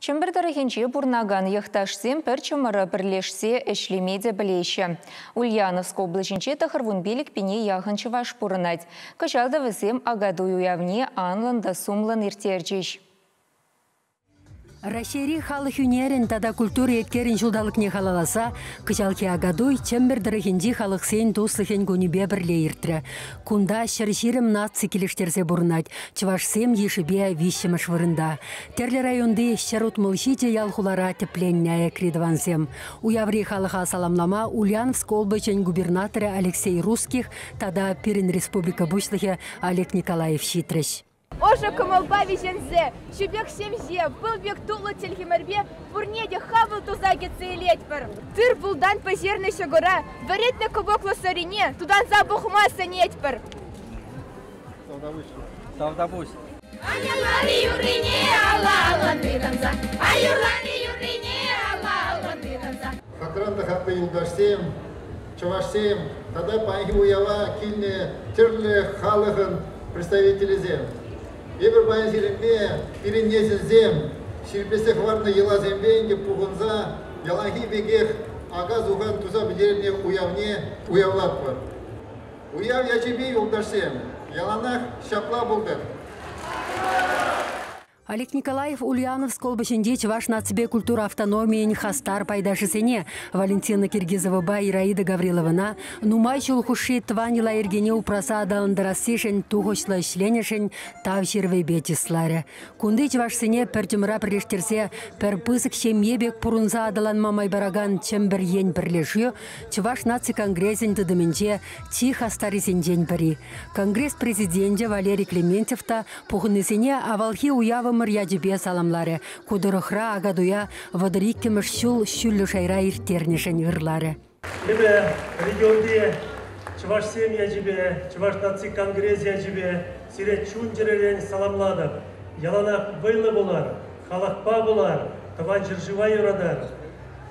Чӗмпӗр тӑрӑхӗнче пурӑнакан йӑхташсем пӗр чӑмӑра пӗрлешсе ӗҫлеме те пӗлеҫҫӗ. Ульяновск облаҫӗнче тӑхӑрвун пилӗк пине яхӑн чӑваш пурӑнать. Кӑҫал та вӗсем Акатуй уявне анлӑн та сумлӑн ирттерчӗҫ. Раҫҫейри халӑх ӳнерӗн тата культура еткерӗн ҫулталӑкне халалласа кӑҫалхи Акатуй Чӗмпӗр тӑрӑхӗнчи халӑхсен туслӑхӗн кунӗпе пӗрле иртрӗ. Кунта ҫӗр ҫирӗм наци килӗштерсе пурӑнать. Чӑвашсем йышӗпе виҫҫӗмӗш вырӑнта. Тӗрлӗ районти ҫӗр утмӑлҫи те ял-хулара тӗпленнӗ аякри тӑвансем. Уяври халӑха саламлама Ульяновск облаҫӗн губернаторӗ Алексей Русских тата пирӗн республика пуҫлӑхӗ Олег Николаев ҫитрӗҫ. Ӑшӑ кӑмӑлпа виҫенсе Чӳпек ҫемҫе пыл пек туллӑ чӗлхемӗрпе пурне те хапӑл туса кӗтсе илетпӗр. Тыр-пултан пӗҫернӗ ҫӑкӑра вӗретнӗ кӑпӑклӑ сӑрине тутанса пӑхма сӗнетпӗр. Тавтапуҫ. Аюрлани юррине алла аллӑн тытӑнса. Аюрлани юррине алла аллӑн тытӑнса. Хакран та хаклӑ юлташсем, чӑвашсем тата паянхи уява килнӗ тӗрлӗ халӑхӑн представителӗсем! Эпир паян сирӗнпе, пирӗн несӗлсем, ҫирӗплетсе хӑварнӑ йӑласемпе ӗнтӗ пухӑнса яланхи пекех ака-сухан туса пӗтернӗ уявне уявлатпӑр. Уяв ячӗпе, юлташсем, яланах ҫапла пултӑр! Олег Николаев Ульяновск облаҫӗнчи чӑваш наципе культура автономийӗн хастар пайташӗсене Валентина Киргизовӑпа Ираида Гавриловӑна нумай ҫул хушши тӑван йӑла-йӗркене упраса аталантарассишӗн тухӑҫлӑ ӗҫленӗшӗн Тав ҫырӑвӗпе чысларӗ. Кунти чӑвашсене пӗр чӑмӑра пӗрлештерсе пӗр пысӑк ҫемье пек пурӑнса аталанма май паракан Чӗмпӗр ен пӗрлешӳ Чӑваш наци конгресӗн тытӑмӗнче чи хастаррисенчен пӗри. Конгресс президенчӗ Валерий Клементьев та Пухӑннисене авалхи уявӑмӑр ячӗпе саламларӗ, ку тӑрӑхра Акатуя вӑтӑр иккӗмӗш ҫул ҫӳллӗ шайра ирттернӗшӗн ырларӗ. Эпӗ регионти чӑвашсем ячӗпе, Чӑваш наци конгресӗ ячӗпе сире чун-чӗререн саламлатӑп. Яланах вӑйлӑ пулар, халӑхпа пулар, тӑван ҫӗршыва юратар,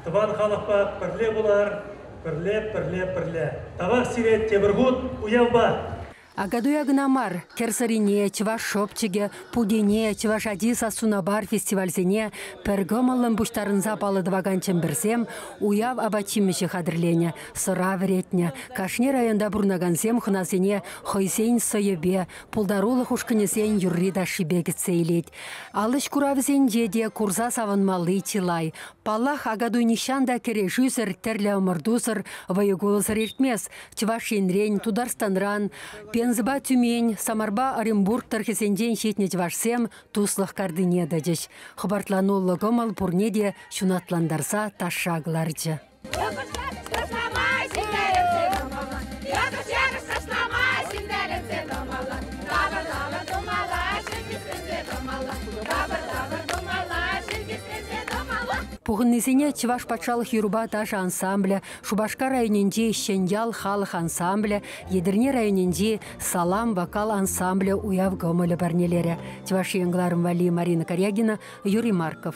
тӑван халӑхпа пӗрле пулар, пӗрле, пӗрле, пӗрле. Тавах сире тепӗр хут уявпа! Акатуя кӑна мар, Кӗрсӑрине, Чӑваш шепчӗкӗ, Пукене, Чӑваш ачи сассуна пар фестивальсене пӗр кӑмӑллӑн пуҫтарӑнса паллӑ тӑвакан чӗмпӗрсем уяв апат-ҫимӗҫӗ хатӗрленӗ, сӑра вӗретнӗ. Кашни районта пурӑнакансем хӑнасене хӑйсен сӑйӗпе, пултарулӑх ушкӑнӗсен юрри-ташшипе кӗтсе илет. Ал ӗҫ куравӗсенче те курса савӑнмалли чылай. Паллах, Акатуй нихҫан та кӗрешӳсӗр, тӗрлӗ ӑмӑртусӑр, вӑйӑ-кулӑсӑр иртмест. Чӑваш Енрен, Тутарстанран, Пензӑпа Тюмень, Самарпа Оренбург тӑрӑхӗсенчен ҫитнӗ чӑвашсем туслӑх картине тӑчӗҫ. Хӑпартламаллӑ кӑмӑл пурне те ҫунатлантарса ташша кӑларчӗ. Пухӑннисене Чӑваш патшалӑх юрӑпа ташӑ ансамблӗ Шупашкар районӗнчи Ҫӗньял халӑх ансамблӗ, Етӗрне районӗнчи Салам вокал ансамблӗ уяв кӑмӑлӗ парнелерӗ. Чӑваш Ен кӑларӑм валли Марина Карягина, Юрий Марков.